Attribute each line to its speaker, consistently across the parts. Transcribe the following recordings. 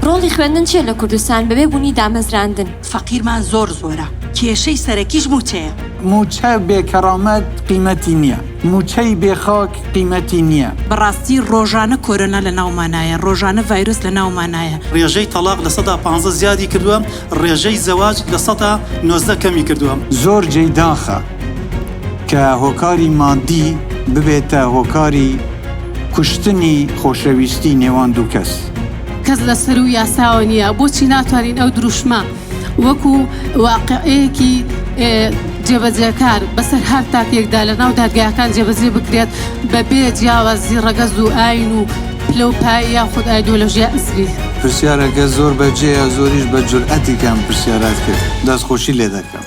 Speaker 1: ڕۆڵی خوێندن چیە لە کوردستان بەبێ بوونی دامەزراندن فەقیرمان زۆر
Speaker 2: زۆرە کێشەی سەرەکیش موچەیە موچە بێ
Speaker 3: کەڕامەت قیمەتی نییە موچەی بێ خاک قیمەتی نییە بەڕاستی ڕۆژانە
Speaker 2: کۆرۆنا لە ناومانایە ڕۆژانە ڤایرۆس لە ناومانایە ڕێژەی تەڵاق لە
Speaker 4: سەدا پ زیادی کردووە ڕێژەی زەواج لە سەدا نۆزدە کەمی کردووە. زۆر جێی داخە.
Speaker 3: کە هۆکاری مادی ببێتە هۆکاری کوشتنی خۆشەویستی نێوان دوو کەس. کەس لە
Speaker 5: سەروو یاساوە نییە، بۆچی ناتوانین ئەو دروشمە وەکوو واقیعێکی جێبەجێکار بەسەر هەر تاکێکدا لە ناو دادگاکان جێبەجێ بکرێت بە بێ جیاوازی ڕەگەز و ئاین و پلە و پایە یاخود ئایدۆلۆژیا ئزری؟ پرسیارەکە زۆر
Speaker 3: بەجێیە، زۆریش بە جورئەتی کە ئەم پرسیارەت کرد، دەستخۆشی لێ دەکەم.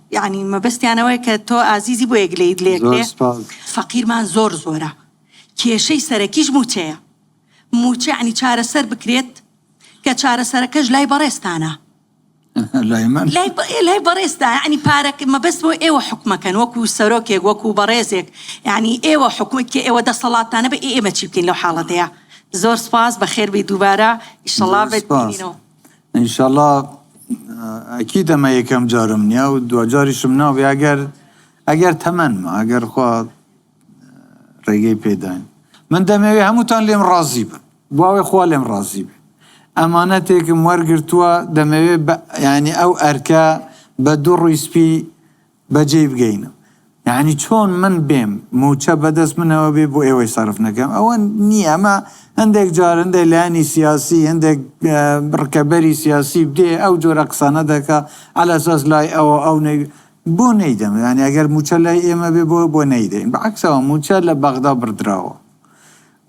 Speaker 2: یەعنی مەبەستیان ئەوەیە کە تۆ ئازیزی بۆیە گلەیت لێ زۆر ئەکرێ؟ سوپاس. فەقیرمان زۆر زۆرە کێشەی سەرەکیش مووچەیە مووچە یەعنی چارەسەر بکرێت کە چارەسەرەکەش لای بەڕێزتانە لای من؟ لای بە لای بەڕێزتا یەعنی پارەک مەبەست بۆ ئێوە حوکمەکەن وەکو سەرۆکێک وەکو بەڕێزێک یەعنی ئێوە حوکمە کێ ئێوە دەسەڵاتتانە بە ئێ ئێمە چی بکەین لەو حاڵەتەیا زۆر سوپاس بەخێربێی دووبارە ئیشەڵا زۆر بە سوپاس. بینینەوە. ئینشەڵا
Speaker 3: ئەکید ئەمە یەکەم جارم نیە و دواجاریشم نابێ ئەگەر ئەگەر تەمەنمە ئەگەر خوا ڕێگەی پێداین من دەمەوێ هەمووتان لێم ڕازی بن بواێ خوا لێم ڕازی بێ ئەمانەتێکم وەرگتووە دەمەوێ ینی ئەو ئەرکە بە دوو ڕیسپی بەجێی بگەینم یانی چۆن من بێم موچە بەدەست منەوە بێ بۆ ئێوەی سەرف نەکەم ئەوە نیە ئەمە هەندێک جار هەندێک لایەنی سیاسی هەندێک ڕکەبەری سیاسی دێ ئەو جۆرە قسانە دەکا عەلە ساس لای ئەوە ئەو نەی بۆ نەیدەم یانی ئەگەر موچە لای ئێمە بێ بۆ بۆ نەیدەین بەعکسەوە موچە لە بەغدا بڕدراوە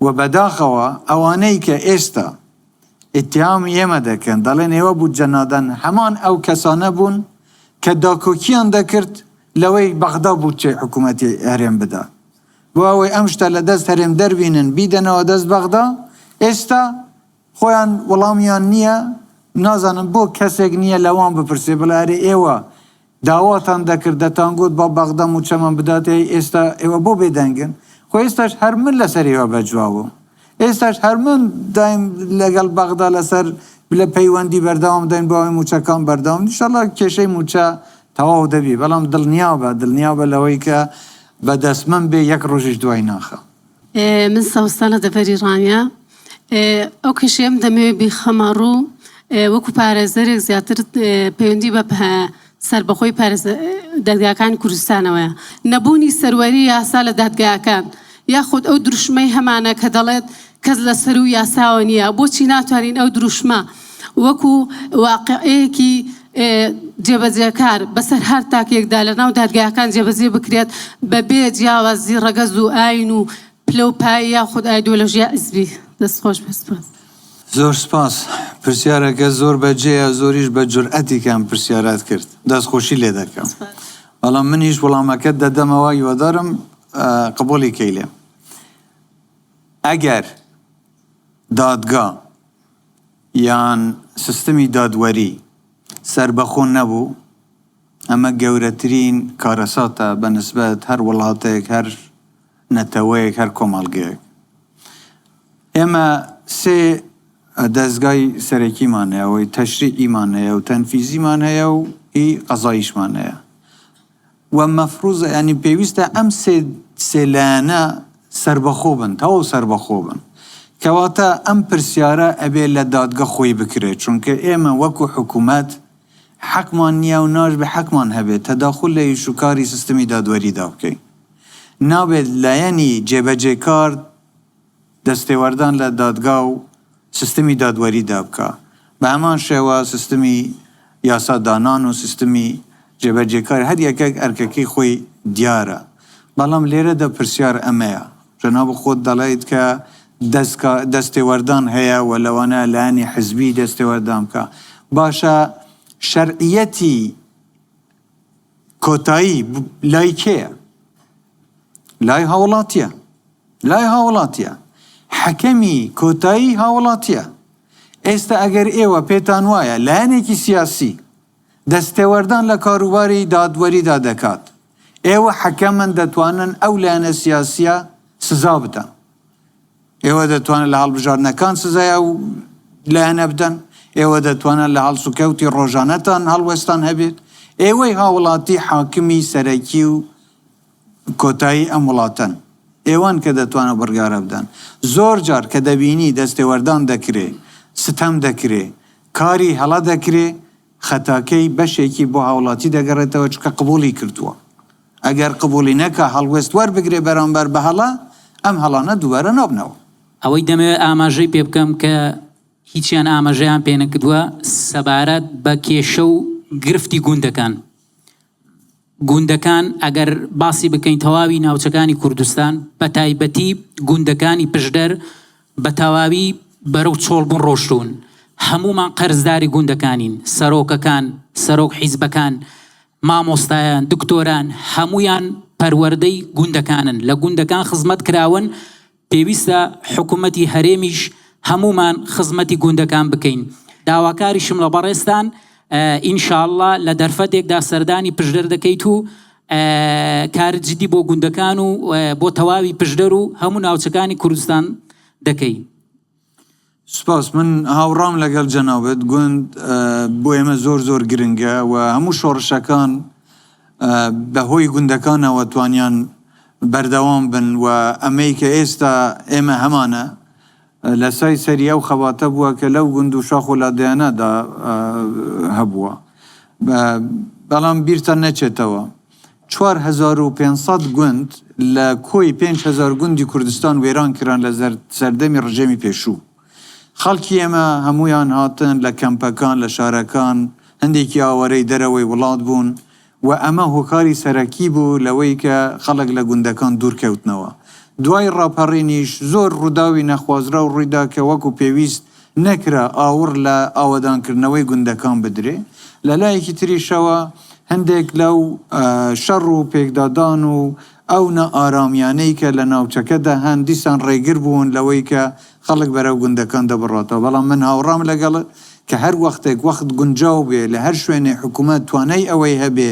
Speaker 3: و بەداخەوە ئەوانەی کە ئێستا ئیتهامی ئێمە دەکەن، دەڵێن ئێوە بودجە نادەن، هەمان ئەو کەسانە بوون کە داکۆکییان دەکرد لەوەی بەغدا بودجەی حکوومەتی هەرێم بدا، بۆ ئەوەی ئەم شتە لە دەست هەرێم دەربینن بیدەنەوە دەست بەغدا، ئێستا خۆیان وڵامیان نییە، نازانم بۆ کەسێک نییە لەوان بپرسێ بڵێ ئەرێ ئێوە داواتان دەکرد دەتانگوت با بەغدا موچەمان بداتێ ئێستا ئێوە بۆ بێدەنگن خۆ ئێستاش هەر من لەسەر ئێوە بەجوابوم ئێستاش هەر من دایم لەگەڵ بەغدا لەسەر بلە پەیوەندی بەردەوام داین بۆ ئەوەی موچەکان بەردەوام نیشەڵا کێشەی موچە تەواو دەبی بەڵام دڵنیابە دڵنیابە لەوەی کە بەدەست من بێ یەک ڕۆژیش دوای ناخەم. من
Speaker 5: سەوزتان لە دەڤەری ڕانیە. ئەو کێشەیەم دەمەوێت بیخەمە ڕوو وەکو پارێزەرێک زیاتر پەیوەندی بە سەربەخۆی دەرگاکانی کوردستانەوەیە نەبوونی سەروەری یاسا لە دادگاکان یاخود ئەو دروشمەی هەمانە کە دەڵێت کەس لە سەروو یاساوە نییە بۆچی ناتوانین ئەو دروشمە وەکو واقیعێکی جێبەجێکار بەسەر هەر تاکێکدا لە ناو دادگاکان جێبەجێ بکرێت بە بێ جیاوازی ڕەگەز و ئاین و پلە و پایە یاخود ئایدۆلۆژیا ئیزبی. دەست خۆش بێت سپاس. زۆر سپاس،
Speaker 3: پرسیارەکە زۆر بە جێیە زۆریش بە جورئەتی کە ئەم پرسیارەت کرد، دەستخۆشی لێ دەکەم. بەڵام منیش وڵامەکەت دەدەمەوە هیوادارم قبوڵی کەی لێم. ئەگەر دادگا. یان سیستمی دادوەری سەربەخۆ نەبوو، ئەمە گەورەترین کارەساتە بە نسبەت هەر وڵاتێک، هەر نەتەوەیەک، هەر کۆمەڵگەیەک. ئێمە سێ دەزگای سەرەکیمان هەیە، ئەوەی تەشریعیمان هەیە و تەنفیزیمان هەیە و هی قەزاییشمان هەیە. و مەفروزە یانی پێویستە ئەم سێ سێ لایەنە سەربەخۆ بن تەواو سەربەخۆ بن کەواتە ئەم پرسیارە ئەبێ لە دادگە خۆی بکرێ چونکە ئێمە وەکو حکومەت حەقمان نیە و ناشبێ حەقمان هەبێ تەداخول لە ئیش و کاری سیستمی دادوەریدا بکەین نابێت لایەنی جێبەجێکار دەستێوەردان لە دادگا و سیستمی دادوەریدا بکا. بە هەمان شێوە سیستمی یاسا دانان و سیستمی جێبەجێکار هەر یەکەک ئەرکەکەی خۆی دیارە. بەڵام لێرەدا پرسیار ئەمەیە، جەناب خۆت دەڵێیت کە دەزکا دەستێوەردان هەیە و لەوانەیە لایەنی حزبی دەستێوەردان بکا. باشە شەرعیەتی. کۆتایی لای کێیە؟ لای هاوڵاتیە لای هاوڵاتیە حەکەمی کۆتایی هاوڵاتیە ئێستا ئەگەر ئێوە پێتان وایە لایەنێکی سیاسی دەستێوەردان لە کاروباری دادوەریدا دەکات ئێوە حەکەمن دەتوانن ئەو لایەنە سیاسیە سزا بدەن. ئێوە دەتوانن لە هەڵبژاردنەکان سزای ئەو لایەنە بدەن، ئێوە دەتوانن لە هەڵسوکەوتی ڕۆژانەتان هەڵوێستتان هەبێت، ئێوەی هاوڵاتی حاکمی سەرەکی و کۆتایی ئەم وڵاتەن، ئێوەن کە دەتوانن ئەو بڕیارە بدەن. زۆر جار کە دەبینی دەستێوەردان دەکرێ، ستەم دەکرێ، کاری هەڵە دەکرێ، خەتاکەی بەشێکی بۆ هاوڵاتی دەگەڕێتەوە، چونکە قبوڵی کردووە. ئەگەر قبووڵی نەکا هەڵوێست وەربگرێ بەرامبەر بە هەڵە، ئەم هەڵانە دووبارە نابنەوە. ئەوەی دەمەوێ
Speaker 6: ئاماژەی پێ بکەم کە هیچیان ئاماژەیان پێ نەکردووە سەبارەت بە کێشە و گرفتی گوندەکان. گوندەکان ئەگەر باسی بکەین تەواوی ناوچەکانی کوردستان بە تایبەتی گوندەکانی پشدەر بە تەواوی بەرەو چۆڵبوون ڕۆشتوون. هەموومان قەرزداری گوندەکانین. سەرۆکەکان، سەرۆک حیزبەکان مامۆستایان، دکتۆران هەموویان پەروەردەی گوندەکانن، لە گوندەکان خزمەت کراون، پێویستە حکومەتی هەرێمیش هەموومان خزمەتی گوندەکان بکەین. داواکاریشم لە بەڕێزتان ان شاء اللە لە دەرفەتێکدا سەردانی پشدەر دەکەیت و کاری جدی بۆ گوندەکان و بۆ تەواوی پشدەر و هەموو ناوچەکانی کوردستان دەکەی.
Speaker 3: سپاس، من هاوڕام لەگەڵ جەنابت، گوند بۆ ئێمە زۆر زۆر گرنگە و هەموو شۆڕشەکان بەهۆی گوندەکانەوە توانیان بەردەوام بن و ئەمەی کە ئێستا ئێمە هەمانە لە سای سەری ئەو خەباتە بووە کە لەو گوند و شاخ و لادێیانەدا هەبووە، بەڵام بیرتان نەچێتەوە. چوار هەزار و پێنج سەد گوند لە کۆی پێنج هەزار گوندی کوردستان وێران کران لە سەردەمی ڕژێمی پێشوو. خەڵکی ئێمە هەموویان هاتن لە کەمپەکان لە شارەکان، هەندێکی ئاوارەی دەرەوەی وڵات بوون و ئەمە هۆکاری سەرەکی بوو لەوەی کە خەڵک لە گوندەکان دوور کەوتنەوە. دوای ڕاپەڕینیش زۆر ڕووداوی نەخوازراو ڕووی دا کە وەکو پێویست نەکرا ئاوڕ لە ئاوەدانکردنەوەی گوندەکان بدرێ، لە لایەکی تریشەوە هەندێک لەو شەڕ و پێکدادان و ئەو نائارامیانەی کە لە ناوچەکەدا هەن دیسان ڕێگر بوون لەوەی کە خەڵک بەرەو گوندەکان دەبڕاتەوە، بەڵام من هاوڕام لەگەڵت کە هەر وەختێک وەخت گونجاو بێ لە هەر شوێنێ حکوومەت توانای ئەوەی هەبێ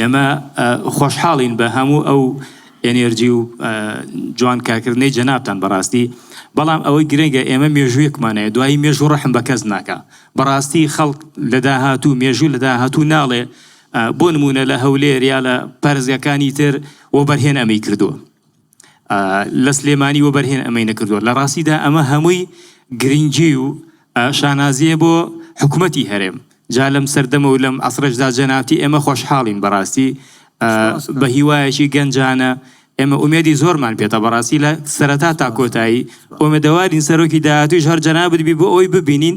Speaker 7: ئێمە خۆشحاڵین بە هەموو ئەو ئێنێرجی و جوان کارکردنەی جەنابتان بەڕاستی بەڵام ئەوەی گرنگە ئێمە مێژوویەکمانەیە دوایی مێژوو ڕەحم بە کەس ناکا بەڕاستی خەڵک لە داهاتوو مێژوو لە داهاتوو ناڵێ بۆ نموونە لە هەولێر یا لە پارێزگاکانی تر وەبەرهێن ئەمەی کردووە. لە سلێمانی وەبەرهێن ئەمەی نەکردووە، لە ڕاستیدا ئەمە هەمووی گرنگی و شانازییە بۆ حکومەتی هەرێم، جا لەم سەردەمە و لەم عەسرەشدا جەنابتی ئێمە خۆشحاڵین بەڕاستی بە هیوایەکی گەنجانە، ئێمە ئومێدی زۆرمان پێتە بەڕاستی لە سەرەتا تا کۆتایی، ئومێدەوارین سەرۆکی داهاتوویش هەر جەنابت بی بۆ ئەوەی ببینین.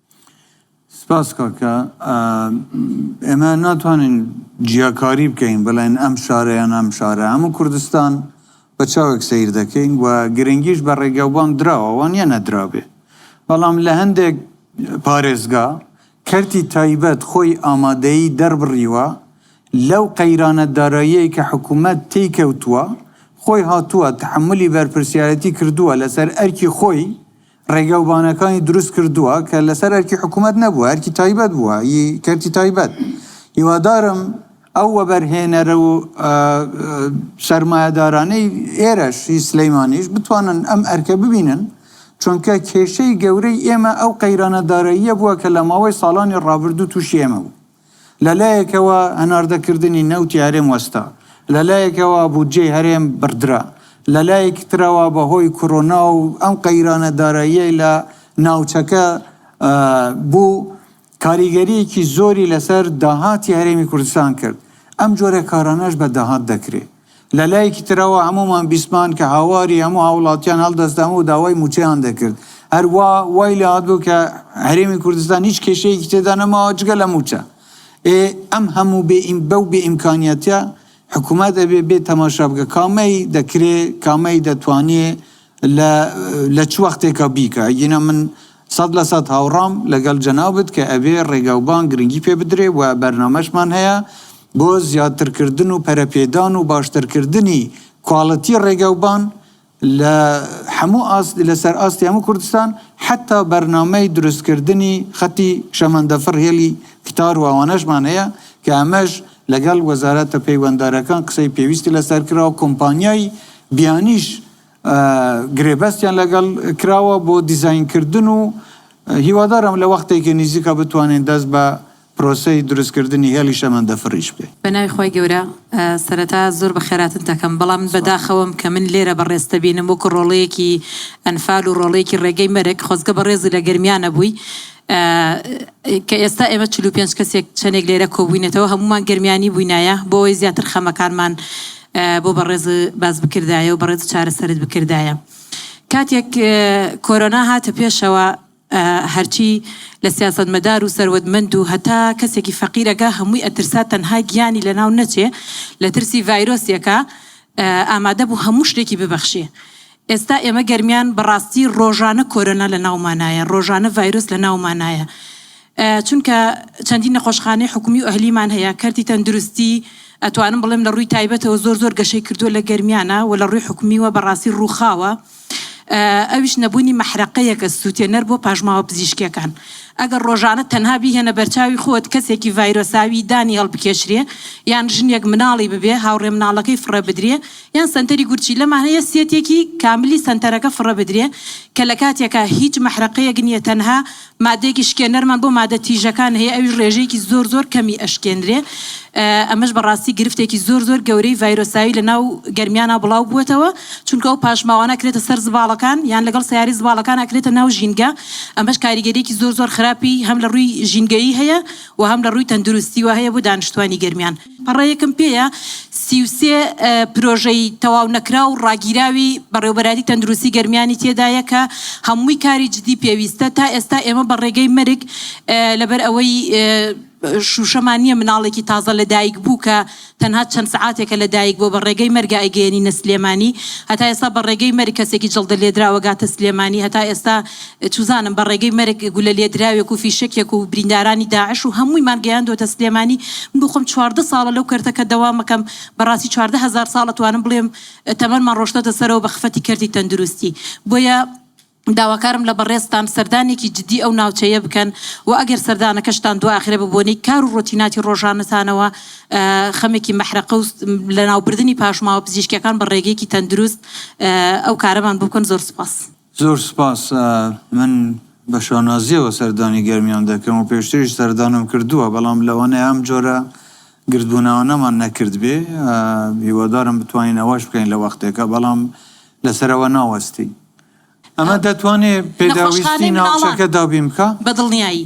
Speaker 3: سپاس کاکە ئێمە ناتوانین جیاکاری بکەین بڵێن ئەم شارە یان ئەم شارە هەموو کوردستان بە چاوێک سیر دەکەین و گرنگیش بە ڕێگا و بانگ دراوە وا نییە نەدرابێ بەڵام لە هەندێک پارێزگا کەرتی تایبەت خۆی ئامادەیی دەربڕیوە لەو قەیرانە داراییەی کە حکوومەت تێی کەوتووە خۆی هاتووە تەحەمولی بەرپرسیارەتی کردووە لەسەر ئەرکی خۆی ڕێگا و بانەکانی دروست کردووە کە لەسەر ئەرکی حکوومەت نەبووە، ئەرکی تایبەت بووە، ی کەرتی تایبەت. هیوادارم ئەو وەبەرهێنەرە و سەرمایەدارانەی ئێرەش، ی سلێمانیش بتوانن ئەم ئەرکە ببینن، چونکە کێشەی گەورەی ئێمە ئەو قەیرانە داراییە بووە کە لە ماوەی ساڵانی ڕابردوو تووشی ئێمە بوو. لە لایەکەوە هەناردەکردنی نەوتی هەرێم وەستا، لە لایەکەوە بودجەی هەرێم بڕدرا، لە لایەکی ترەوە بە هۆی کۆرۆنا و ئەم قەیرانە داراییەی لە ناوچەکە بوو، کاریگەرییەکی زۆری لەسەر داهاتی هەرێمی کوردستان کرد، ئەم جۆرە کارانەش بە داهات دەکرێ. لە لایەکی ترەوە هەموومان بیستمان کە هاواری هەموو هاوڵاتیان هەڵدەستام و داوای مووچەیان دەکرد، هەر وا وای لێ هاتبوو کە هەرێمی کوردستان هیچ کێشەیەکی تێدا نەماوە جگە لە مووچە. ئێ ئەم هەموو بێ ئیم بەو بێ ئیمکانیەتە حکوومەت ئەبێ بێ تەماشا بکە کامەی دەکرێ کامەی دەتوانێ لە لە چ وەختێکە بیکە ئەگینا من سەد لە سەد هاوڕام لەگەڵ جەنابت کە ئەبێ ڕێگاوبان گرنگی پێ بدرێ و بەرنامەشمان هەیە بۆ زیادترکردن و پەرەپێدان و باشترکردنی کواڵتی ڕێگاوبان لە هەموو ئاست لەسەر ئاستی هەموو کوردستان حەتا بەرنامەی دروستکردنی خەتی شەمەندەفڕ هێڵی کتار و ئەوانەشمان هەیە کە ئەمەش لەگەڵ وەزارەتە پەیوەندارەکان قسەی پێویستی لەسەر کراوە، کۆمپانیای بیانیش گرێبەستیان لەگەڵ کراوە بۆ دیزاینکردن و هیوادارم لە وەختێکی نیزیکا بتوانین دەست بە پرۆسەی دروستکردنی هێڵی شەمەندەفڕیش بکەین. بەناوی خوای گەورە
Speaker 8: سەرەتا زۆر بەخێراتن دەکەم بەڵام بەداخەوەم کە من لێرە بەڕێزت دەبینم وەکو ڕۆڵەیەکی ئەنفال و ڕۆڵەیەکی ڕێگەی مەرگ خۆزگە بەڕێزی لە گەرمیانە بووی، کە ئێستا ئێمە چل و پێنج کەسێک چەندێک لێرە کۆبووینەتەوە هەموومان گەرمیانی بووینایە بۆەوەی زیاتر خەمەکانمان بۆ بەڕێز باس بکردایە و بەڕێز چارەسەرت بکردایە کاتێک کۆرۆنا هاتە پێشەوە هەرچی لە سیاست مەدار و سەروەتمەند و هەتا کەسێکی فەقیرەگە هەمووی ئەترسا تەنها گیانی لە ناو نەچێ لە ترسی ڤایرۆسێکە ئامادە بوو هەموو شتێکی ببەخشێ ئێستا ئێمە گەرمیان بەڕاستی ڕۆژانە کۆرۆنا لە ناومانایە ڕۆژانە ڤایرۆس لە ناومانایە چونکە چەندین نەخۆشخانەی حکومی و ئەهلیمان هەیە کەرتی تەندروستی ئەتوانم بڵێم لە ڕووی تایبەتەوە زۆر زۆر گەشەی کردووە لە گەرمیانە و لە ڕووی حکومیوە بەڕاستی ڕووخاوە ئەویش نەبوونی مەحرەقەیەکە سووتێنەر بۆ پاژماوە پزیشکیەکان ئەگەر ڕۆژانە تەنها بیهێنە بەرچاوی خۆت کەسێکی ڤایرۆساوی دانی هەڵبکێشرێ یان ژنێک مناڵی ببێ هاوڕێ مناڵەکەی فڕێ بدرێ یان سەنتەری گورچیل لە مانایە سێتێکی کاملی سەنتەرەکە فڕێ بدرێ کە لە کاتێکا هیچ مەحرەقەیەک نیە تەنها مادەیەکی شکێنەرمان بۆ مادە تیژەکان هەیە ئەویش ڕێژەیەکی زۆر زۆر کەمی ئەشکێنرێ ئەمەش بە ڕاستی گرفتێکی زۆر زۆر گەورەی ڤایرۆساوی لە ناو گەرمیانا بڵاو بوەتەوە چونکە ئەو پاشماوانە ئەکرێتە سەر زباڵەکان یان لەگەڵ سەیارەی زباڵەکان ئەکرێتە ناو ژینگە ئەمەش کاریگەریەکی زۆر زۆر خراپی هەم لە ڕووی ژینگەیی هەیە و هەم لە ڕووی تەندروستی وە هەیە بۆ دانیشتوانی گەرمیان. پەڕەیەکم پێیە سی و سێ پرۆژەی تەواو نەکراو ڕاگیراوی بەڕێوبەرایەتی تەندروستی گەرمیانی تێدایە کە هەمووی کاری جدی پێویستە تا ئێستا ئێمە بە ڕێگەی مەرگ لەبەر ئەوەی شوشەمان نیە مناڵێکی تازە لە دایک بوو کە تەنها چەند سەعاتێکە لە دایک بووە بە ڕێگەی مەرگە ئەیگەیەنینە سلێمانی هەتا ئێستا بە ڕێگەی مەرگ کەسێکی جەڵدە لێدراوە گاتە سلێمانی هەتا ئێستا چزانم بە ڕێگەی مەرگ گولە لێدراوێک و فیشەکێک و بریندارانی داعش و هەموویمان گەیاندۆتە سلێمانی من بۆ خۆم چواردە ساڵە لەو کەرتەکە دەوامەکەم بەڕاستی چواردە هەزار ساڵ ئەتوانم بڵێم تەمەنمان ڕۆشتۆتە سەرەوە بە خفەتی کەرتی تەندروستی بۆیە داواکارم لە بەڕێزتان سەردانێکی جدی ئەو ناوچەیە بکەن و ئەگەر سەردانەکەشتان دواخرێ بە بۆنەی کار و ڕۆتیناتی ڕۆژانەتانەوە خەمێکی مەحرەقە و لەناوبردنی پاشماوە پزیشکیەکان بە ڕێگەیەکی تەندروست ئەو کارەمان بۆ بکەن زۆر سوپاس. زۆر سوپاس،
Speaker 3: من بە شانازییەوە سەردانی گەرمیان دەکەم و پێشتریش سەردانم کردووە، بەڵام لەوانەیە ئەم جۆرە گردبوونەوانەمان نەکردبێ، هیوادارم بتوانین ئەوەش بکەین لە وەختێکا، بەڵام لەسەرەوە ناوەستین ئەمە دەتوانێ پێداویستی ناوچەکە دابین بکا؟ بەدڵنیایی.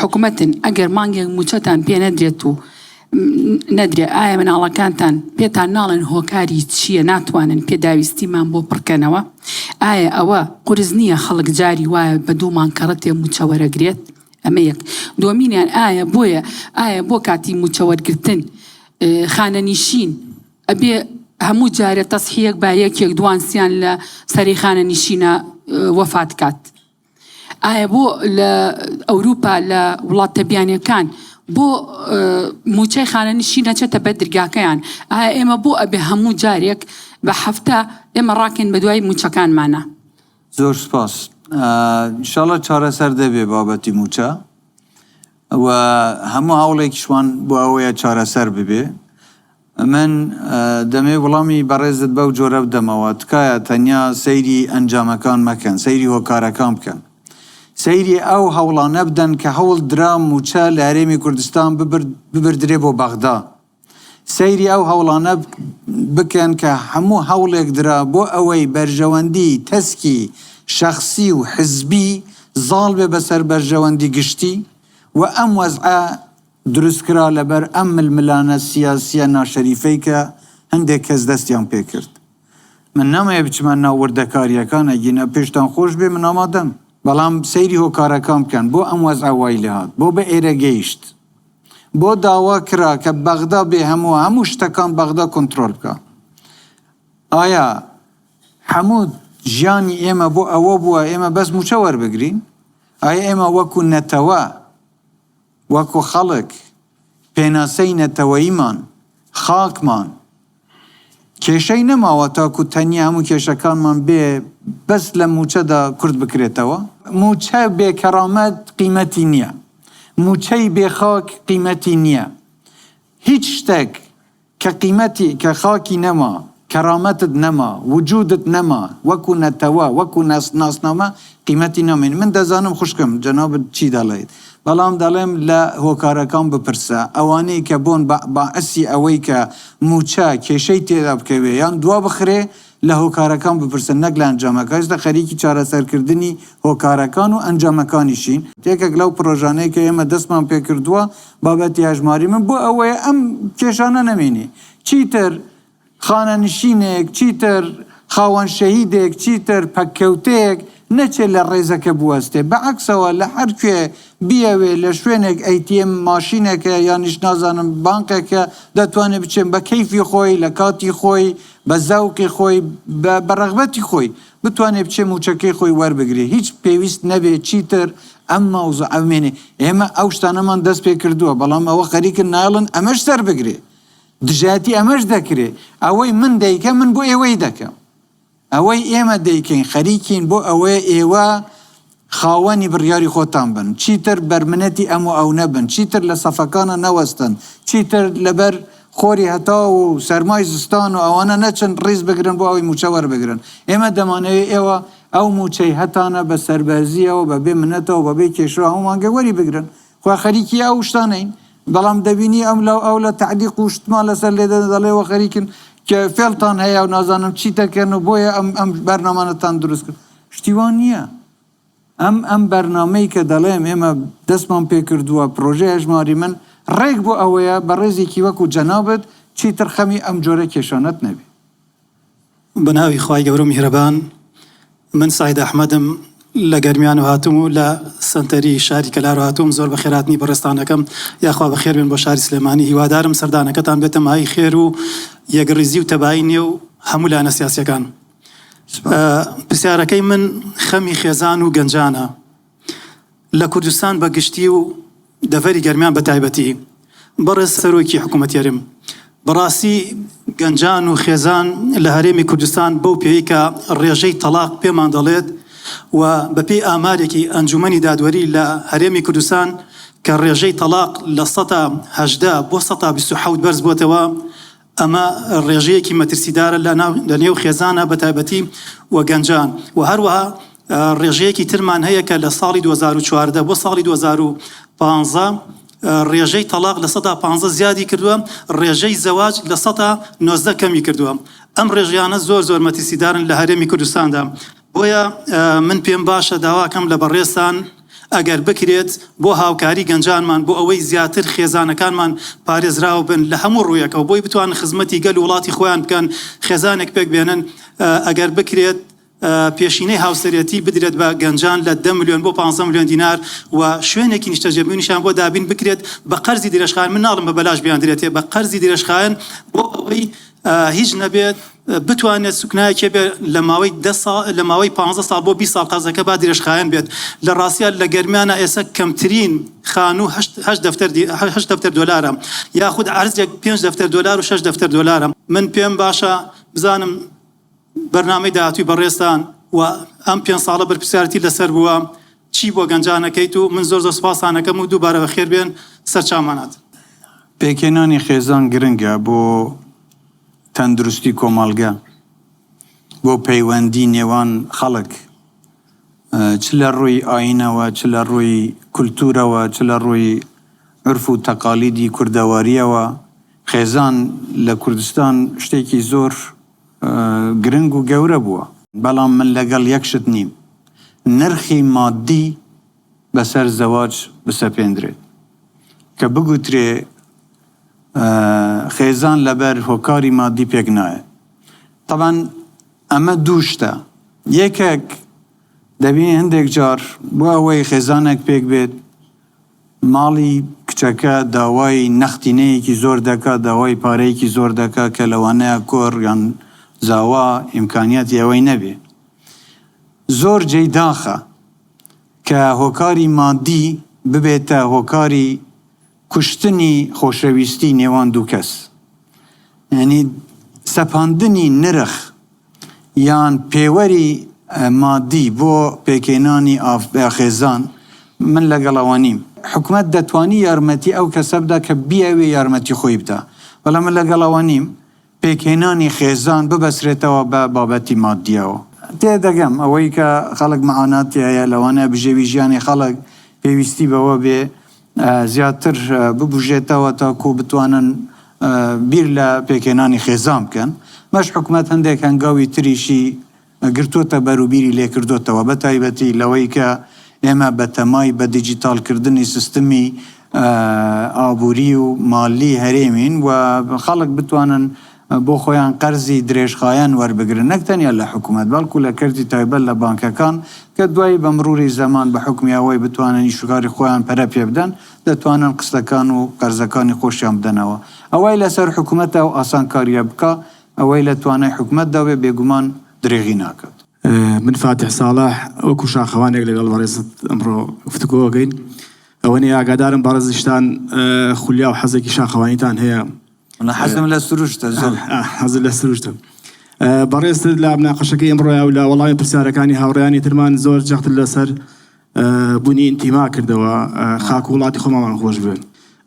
Speaker 9: حکومەتن ئەگەر مانگێک موچەتان پێ نەدرێت و نەدرێ ئایا مناڵەکانتان پێتان ناڵێن هۆکاری چییە ناتوانن پێداویستیمان بۆ پڕکەنەوە ئایا ئەوە قرس نییە خەڵک جاری وایە بە دوومان کەڕەتێ موچەوەرەگرێت ئەمە یەک دۆمینیان ئایا بۆیە ئایا بۆ کاتی موچەوەرگتن خانەنیشین ئەبێ هەموو جارە تەسحیەک باەکێک دوانسییان لە سەری خانە نشینە وەفات کات. ئایا بۆ لە ئەوروپا لە وڵاتە بیانیەکان بۆ موچەی خانەنشی نەچێتە بەر درگاکەیان ئایا ئێمە بۆ ئەبێ هەموو جارێک بە هەفتە ئێمە ڕاکەین بە دوای موچەکانمانە زۆر
Speaker 3: سپاس شڵە چارەسەر دەبێ بابەتی موچە و هەموو هەوڵێکیشوان بۆ ئەوەیە چارەسەر ببێ من دەمێ وڵامی بەڕێزت بەو جۆرە بدەمەوە، تکایە تەنیا سەیری ئەنجامەکان مەکەن، سەیری هۆکارەکان بکەن. سەیری ئەو هەوڵانە بدەن کە هەوڵ درا مووچە لە هەرێمی کوردستان ببردرێ بۆ بەغدا. سەیری ئەو هەوڵانە بکەن کە هەموو هەوڵێک درا بۆ ئەوەی بەرژەوەندی تەسکی شەخسی و حزبی زاڵ بێ بەسەر بەرژەوەندی گشتی و ئەم وەزعە دروست کرا لەبەر ئەم ململانە سیاسیە ناشەریفەی کە هەندێک کەس دەستیان پێ کرد من نامەوێ بچمە ناو وردەکاریەکان ئەگینا پێشتان خۆش بێ من ئامادەم بەڵام سەیری هۆکارەکان بکەن بۆ ئەم وەزعە وای لێ هات بۆ بە ئێرە گەیشت بۆ داوا کرا کە بەغدا بێ هەموو هەموو شتەکان بەغدا کۆنترۆل بکا ئایا هەموو ژیانی ئێمە بۆ ئەوە بووە ئێمە بەس موچە وەربگرین ئایا ئێمە وەکو نەتەوە وەکو خەڵک، پێناسەی نەتەوەییمان، خاکمان، کێشەی نەماوە تاکو تەنیا هەموو کێشەکانمان بێ بەس لە مووچەدا کورت بکرێتەوە. مووچە بێ کەرامەت قیمەتی نییە، مووچەی بێ خاک قیمەتی نییە، هیچ شتێک. کە قیمەتی، کە خاکی نەما، کەرامەتت نەما، وجودت نەما، وەکو نەتەوە، وەکو ناسنامە قیمەتی نامێنی. من دەزانم خوشکم جەنابت چی دەڵێیت، بەڵام دەڵێم لە هۆکارەکان بپرسە، ئەوانەی کە بۆن باعسی ئەوەی کە موچە کێشەی تێدا بکەوێ یان دوابخرێ، لە هۆکارەکان بپرسن نەک لە ئەنجامەکە، ئێستا خەریکی چارەسەرکردنی هۆکارەکان و ئەنجامەکانیشین، یەکێک لەو پڕۆژانەی کە ئێمە دەستمان پێکردووە بابەتی هەژماری من بۆ ئەوەیە ئەم کێشانە نەمێنی، چیتر خانەنشینێک، چیتر خاوەن شەهیدێک، چیتر پەککەوتەیەک نەچێت لە ڕێزەکە بوەستێت، بە عەکسەوە لە هەر کوێ بیەوێت لە شوێنێک ئەی تی ئێم ماشینێک هەیە یانیش نازانم بانقێک هەیە دەتوانێت بچێت بە کەیفی خۆی لە کاتی خۆی، بە زەوقی خۆی، بە رەغبەتی خۆی، بتوانێ بچێ مووچەکەی خۆی وەربگرێ، هیچ پێویست نەبێ چیتر ئەم مەوزوعە بمێنێ. ئێمە ئەو شتانەمان دەست پێ کردووە، بەڵام ئەوە خەریکن نایەڵن ئەمەش سەربگرێ. دژایەتی ئەمەش دەکرێ. ئەوەی من دەیکەم، من بۆ ئێوەی دەکەم. ئەوەی ئێمە دەیکەین، خەریکین بۆ ئەوەیە ئێوە. خاوەنی بڕیاری خۆتان بن، چیتر بەرمنەتی ئەم و ئەو نەبن، چیتر لە سەفەکانا نەوەستن، چیتر لەبەر خۆری هەتاو و سەرمای زستان و ئەوانە نەچن ڕیز بگرن بۆ ئەوەی مووچە وەربگرن. ئێمە دەمانەوێت ئێوە ئەو مووچەی هەتانە بە سەربەرزییەوە، بە بێ منەتەوە، بە بێ کێشە و هەموو مانگێک وەری بگرن. خۆ خەریکی ئەو شتانەین، بەڵام دەبینی ئەم لا و ئەو لا تەعلیق و شتمان لەسەر لێ دەدەن، دەڵێن ئێوە خەریکن کێ فێڵتان هەیە و نازانم چی دەکەن و بۆیە ئەم بەرنامانەتان دروست کرد. شتی وا نییە. ئەم ئەم بەرنامەی کە دەڵێم ئێمە دەستمان پێ کردووە، پرۆژەی هەژماری من، ڕێک بۆ ئەوەیە بەڕێزێکی وەکوو جەنابت چیتر خەمی ئەم جۆرە کێشانەت نەبێ.
Speaker 4: بە ناوی خوای گەورە و میهرەبان، من سەعید ئەحمەدم، لە گەرمیانوو هاتووم و لە سەنتەری شاری کەلار هاتووم، زۆر بە خێرهاتنی بەڕێزتانەکەم، یاخوا بە خێر بێن بۆ شاری سلێمانی، هیوادارم سەردانەکەتان بێتە مایەی خێر و یەکڕیزی و تەبایی نێو هەموو لایەنە سیاسییەکان. پرسیارەکەی من خەمی خێزان و گەنجانە لە کوردستان بە گشتی و دەڤەری گەرمیان بە تایبەتی. بەڕێز سەرۆکی حکوومەتی هەرێم، بەڕاستی گەنجان و خێزان لە هەرێمی کوردستان بەو پێیەی کە ڕێژەی تەڵاق پێمان دەڵێت و بەپێی ئامارێکی ئەنجوومەنی دادوەری لە هەرێمی کوردستان کە ڕێژەی تەڵاق لە سەدا هەژدە بۆ سەدا بیست و حەوت بەرز بۆتەوە، ئەمە ڕێژەیەکی مەترسیدارە لە نێو خێزانە بە تایبەتی و گەنجان و هەروەها ڕێژەیەکی ترمان هەیە کە لە ساڵی 2014 بۆ ساڵی 2015 ڕێژەی تەلاق لە سەدا 15 زیادی کردووە ڕێژەی زەواج لە سەدا 19 کەمی کردووە ئەم ڕێژیانە زۆر زۆر مەترسیدارن لە هەرێمی کوردستاندا بۆیە من پێم باشە داواکەم لە بەڕێزتان ئەگەر بکرێت بۆ هاوکاری گەنجانمان بۆ ئەوەی زیاتر خێزانەکانمان پارێزراو بن لە هەموو ڕوویەکەوە بۆی بتوان خزمەتی گەل و وڵاتی خۆیان بکەن خێزانێک پێک بێنن ئەگەر بکرێت پێشینەی هاوسەرەتی بدرێت بە گەنجان لە دە ملیۆن بۆ 15 ملیۆن دینار و شوێنێکی نیشتەجێبوونیشان بۆ دابین بکرێت بە قەرزی درێژخایەن من ناڵم بە بەلاش بیاندرێتێ بە قەرزی درێژخایەن بۆ ئەوەی هیچ نەبێت بتوانێت سوکنایەکێ بێت لە ماوەی دە سا لە ماوەی پانزە ساڵ بۆ بیست ساڵ قەرزەکە با درێژخایەن بێت لە ڕاستیا لە گەرمیانا ئێسە کەمترین خانوو هەشت هەشت دەفتەر دی هەشت دەفتەر دۆلارە یاخود عەرزێک پێنج دەفتەر دۆلار و شەش دەفتەر دۆلارە من پێم باشە بزانم بەرنامەی داهاتووی بەڕێزتان و ئەم پێنج ساڵە بەرپرسیارەتی لەسەر بووە چی بۆ گەنجان ئەکەیت و من زۆر زۆر سوپاستان ئەکەم و دووبارە بەخێربێن سەرچاومانات. پێکهێنانی
Speaker 3: خێزان گرنگە بۆ. تەندروستی کۆمەڵگە بۆ پەیوەندی نێوان خەڵک چ لە ڕووی ئاینەوە چ لە ڕووی کولتوورەوە چ لە ڕووی عورف و تەقالیدی کوردەوارییەوە خێزان لە کوردستان شتێکی زۆر گرنگ و گەورە بووە. بەڵام من لەگەڵ یەک شت نیم نرخی مادی، بەسەر زەواج بسەپێندرێت کە بگوترێ خێزان لەبەر هۆکاری مادی پێک نایەت. تەبعەن ئەمە دوو شتە، یەکەک دەبینین هەندێک جار بۆ ئەوەی خێزانێک پێک بێت ماڵی کچەکە داوای نەختینەیەکی زۆر دەکا، داوای پارەیەکی زۆر دەکا کە لەوانەیە کوڕ یان زاوا ئیمکانیاتی ئەوەی نەبێ. زۆر جێی داخە. کە هۆکاری مادی ببێتە هۆکاری کوشتنی خۆشەویستی نێوان دوو کەس یانی سەپاندنی نرخ یان پێوەری مادی بۆ پێکهێنانی ئاخێزان من لەگەڵ ئەوە نیم حکومەت دەتوانی یارمەتی ئەو کەسە بدا کە بیاوێ یارمەتی خۆی بدا بەڵام من لەگەڵ ئەوە نیم پێکهێنانی خێزان ببەسرێتەوە بە بابەتی ماددییەوە. تێدەگەم ئەوەی کە خەڵک مەعاناتی هەیە لەوانەیە بژێوی ژیانی خەڵک پێویستی بەوە بێ زیاتر ببوژێتەوە تاکوو بتوانن بیر لە پێکهێنانی خێزان بکەن. مەش حکومەت هەندێک هەنگاوی تریشی گرتۆتە بەر و بیری لێ کردۆتەوە بە تایبەتی لەوەی کە ئێمە بە تەمای بە دیجیتاڵ کردنی سیستمی ئابووری و مالی هەرێمین و خەڵک بتوانن بۆ خۆیان قەرزی درێژخایەن وەربگرن نەک تەنیا لە حکوومەت بەڵکوو لە کەرتی تایبەت لە بانکەکان کە دوایی بە مرووری زەمان بە حوکمی ئەوەی بتوانن ئیش و کاری خۆیان پەرە پێ بدەن دەتوانن قستەکان و قەرزەکانی خۆشیان بدەنەوە ئەوەی لەسەر حکوومەتە ئەو ئاسانکارییە بکا ئەوەی لە توانای حکومەتدا بێ بێگومان درێغی ناکات. من فاتیح
Speaker 10: ساڵح وەکو شاخەوانێک لەگەڵ بەڕێزت ئەمڕۆ گفتوگۆ ئەکەین ئەوەنی ئاگادارم بەڕێزیشتان خولیا و حەزێکی شاخەوانیتان هەیە وەڵا
Speaker 3: حەزم لە سروشتە
Speaker 10: زۆر حەزت لە سروشتە بەڕێزت لە مناقەشەکەی ئەمڕۆیا و لە وەڵامی پرسیارەکانی هاوڕێیانی ترمان زۆر جەخت لەسەر بوونی ئینتیما کردەوە خاک و وڵاتی خۆمامان خۆش بوێن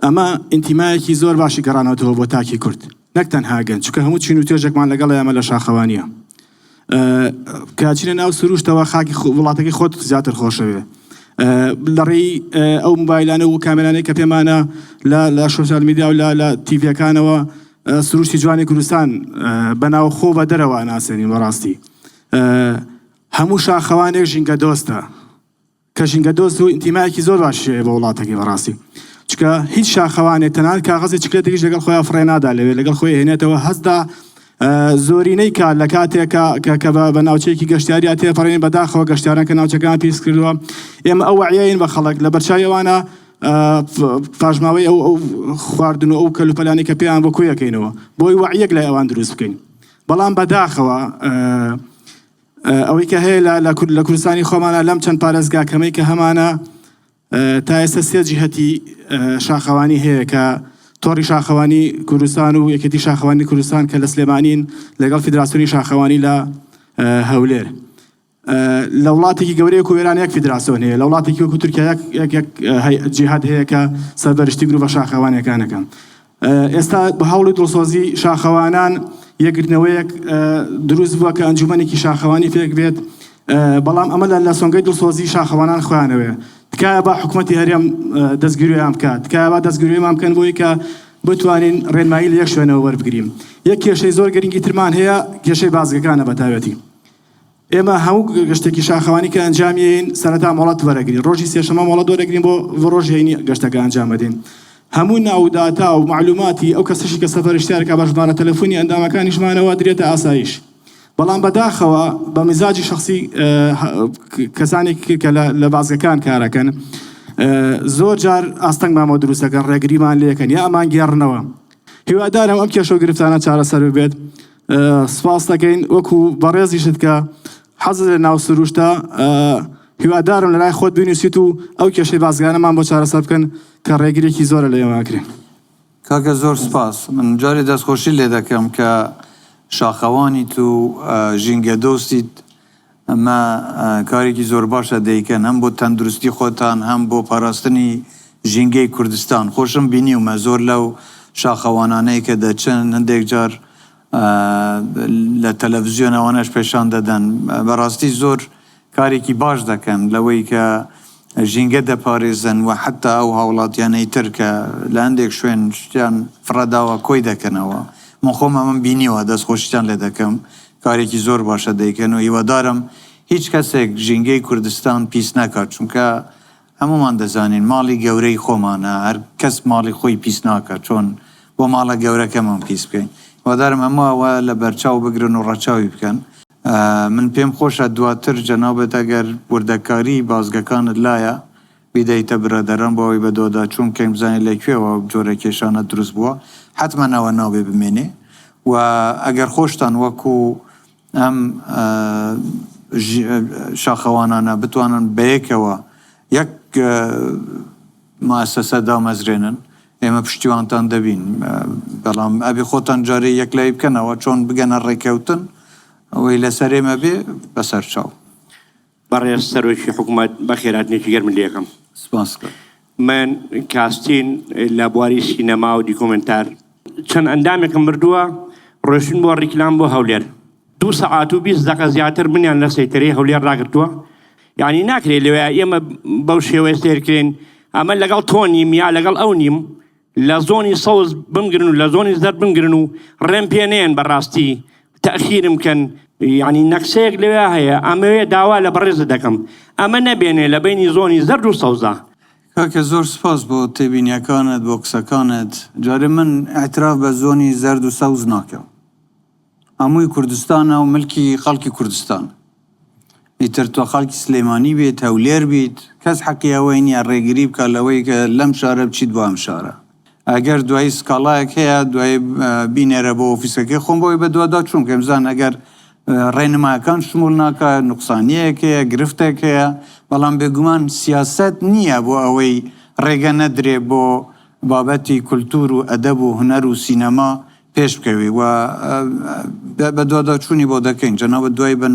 Speaker 10: ئەمە ئینتیمایەکی زۆر باشی گەڕانەوەتەوە بۆ تاکی کورد نەک تەنها گەنج چونکە هەموو چین و توێژێکمان لەگەڵ ئێمە لە شاخەوانیە کاچینە ناو سروشتەوە خاکی وڵاتەکەی خۆت زیاتر خۆشەوێ لەڕێی ئەو موبایلانە و کامێرانەی کە پێمانە لە سوسیال میدیا و لە تیڤەکانەوە سروشتی جوانی کوردستان بەناو خۆ بە دەرەوە ناسێنین بەڕاستی هەموو شاخەوانێک ژینگە دۆستە کە ژینگە دۆست و ئینتیمایەکی زۆر باشی هەیە بۆ وڵاتەکەی بەڕاستی چکە هیچ شاخەوانێ تەنانەت کاغەزی چکلێتێکیش لەگەڵ خۆیان فڕێ نادا لەوێ لەگەڵ خۆی هێنێتەوە هەستا زۆرینەی کار لە کاتێکە کە کە بە ناوچەیەکی گەشتیاریا تێپەڕین بەداخەوە گەشتاران کە ناوچەکان پیس کردووە ئێمە ئەو وعیین بە خەڵک لە بەرچاویوانە پاشماوەی ئەو ئەو خواردن و ئەو کەلوپەلانی کە پێیان بۆ کویەکەینەوە بۆی وعیەک لای ئەوان دروست بکەین بەڵام بەداخەوە ئەوەی کە هەیە لە لە کوردستانی خۆمانە لەم چەند پارێزگا کەمەی کە هەمانە تا ئێستا سێ جیهەتی شاخەوانی هەیە کە تۆڕی شاخەوانی کوردستان و یەکێتی شاخەوانی کوردستان کە لە سلێمانین لەگەڵ فیدراسیۆنی شاخەوانی لە هەولێر لە وڵاتێکی گەورەیە و وێران یەک فیدراسیۆن هەیە لە وڵاتێکی وەکو تورکیا یەک جیهات هەیە کە سەربەرشتی گروڤە شاخەوانەکانەکەم ئێستا بە هەوڵ و دڵسۆزی شاخەوانان یەکگرتنەوەیەک دروست بووە کە ئەنجومەنێکی شاخەوانی پێک بێت بەڵام ئەمە لە سۆنگەی دڵسۆزی شاخەوانان خوانەوەێ تکایە بە حکوومەتتی هەرێم دەستگیرویان بکات تکایە دەستگروێمان بکەن بۆی کە بتوانین ڕێنمایی لە یەک شوێنەوە وەربگرین یەک کێشەی زۆر گرنگی ترمان هەیە کێشەی بازگەکانە بەتاوەتی ئێمە هەموو گەشتێکی شاخەوانی کە ئەنجامیین سەرەتا مۆڵەت وەرەگرین ڕۆژی سێشەمە مۆڵەت وەرەگرین بۆ ڕۆژ هەینی گەشتەکە ئەنجامەدەین هەموو ناوداتا و معلوماتی ئەو کەسەشی کە سەفەرشتارکە بە ژمارە تەلەفۆنی ئەندامەکانیشمانەوە درێتە ئاسایش بەڵام بەداخەوە بە مزاجی شخصی کەسانێکی کە لە بازگەکان کارەکەن زۆر جار ئاستەنگ مامۆ دروستەکەن ڕێگریمان لەکەن یا ئەمان گێڕنەوە هیوادارم ئەم کێشە و گرفتانە چارەسەر بێت سپاس دەکەین وەکو بەڕێزیشت کە حەزت لە ناو سروشتە هیوادارم لەلای خۆت بینوسیت و ئەو کێشەی بازگانەمان بۆ چارەسەر بکەن کە ڕێگرێکی زۆرە لە ئێمەکرێن کاکە
Speaker 3: زۆر سپاس من جارێ دەستخۆشی لێ دەکەم کە شاخەوانیت و ژینگە دۆستیت ئەمە کارێکی زۆرباشە دەیکەن هەم بۆ تەندروستی خۆتان هەم بۆ پاراستنی ژینگەی کوردستان خۆشم بینیومە زۆر لەو شاخەوانانەی کە دەچن هەندێک جار لە تەلەفزیۆنەوانەش پێشان دەدەن بەراستی زۆر کارێکی باش دەکەن لەوەی کە ژینگە دەپارێزن و حتا ئەو هاوڵاتیانەی تر کە لە هەندێک شوێن شتیان فڕەداوە کۆی دەکەنەوە من خۆم ئەمەم بینیوە دەست خۆشیتان لێ دەکەم کارێکی زۆر باشە دەیکەن و هیوادارم هیچ کەسێک ژینگەی کوردستان پیس نەکات چونکە هەموومان دەزانین ماڵی گەورەی خۆمانە هەر کەس ماڵی خۆی پیس ناکات چۆن بۆ ماڵە گەورەکەمان پیس بکەین هیوادارم هەموو ئەوە لە بەرچاو بگرن و ڕەچاوی بکەن. من پێم خۆشە دواتر جەنابت ئەگەر وردەکاری بازگەکانت لایە، بیدەیتە برادەران بۆ ئەوەی بە دۆدا چوون کەین بزانین لە کوێوە ئەو جۆرە کێشانە دروست بووە حەتمەن ئەوە نابێ بمێنێ و ئەگەر خۆشتان وەکو ئەم شاخەوانانە بتوانن بەیەکەوە یەک موئەسەسە دامەزرێنن ئێمە پشتیوانتان دەبین بەڵام ئەبێ خۆتان جارێ یەکلایی بکەنەوە چۆن بگەنە ڕێکەوتن ئەوەی لەسەر ئێمە بێ بەسەرچاو. بەڕێز
Speaker 11: سەرۆکی حکومەت بەخێراتنێکی گەرم لێ یەکەم. سپاس کاک.
Speaker 3: من
Speaker 11: کاستین لە بواری سینەما و دیکۆمێنتار. چەند ئەندامێکم بردووە ڕۆشتن بۆ ڕیکلام بۆ هەولێر دوو سەعات و بیست دەقە زیاتر منیان لە سەیتەرەی هەولێر ڕاگرتووە یانی ناکرێ لەوێ ئێمە بەو شێوەیە سەیرکرێین ئەمە لەگەڵ تۆ نیم یا لەگەڵ ئەو نیم لە زۆنی سەوز بمگرن و لە زۆنی زەرد بمگرن و ڕێم پێ نێن بەڕاستی تەئخیرم کەن. یەعنی نەقسەیەک لەوێا هەیە ئەمەوێ داوا لە بەڕێزت دەکەم ئەمە نەبێنێ لە بەینی زۆنی زەرد و سەوزا. کاکە زۆر
Speaker 3: سپاس بۆ تێبینیەکانت بۆ قسەکانت جارێ من ئیعتراف بە زۆنی زەرد و سەوز ناکەم. هەمووی کوردستانە و ملکی خەڵکی کوردستانە. ئیتر تۆ خەڵکی سلێمانی بیت، هەولێر بیت، کەس حەقی ئەوەی نییە ڕێگری بکات لەوەی کە لەم شارە بچیت بۆ ئەم شارە. ئەگەر دوایی سکاڵایەک هەیە، دوایی بینێرە بۆ ئۆفیسەکەی خۆم بۆ ئەوەی بەدواداچوون بکەین، بزانن ئەگەر ڕێنمایەکان شموول ناکات، نوقسانییەک هەیە، گرفتێک هەیە. بەڵام بێگومان سیاسەت نییە بۆ ئەوەی ڕێگە نەدرێت بۆ بابەتی کولتوور و ئەدەب و هونەر و سینەما پێش بکەوی و بە دوادا چوونی بۆ دەکەین جەنابت دوای بە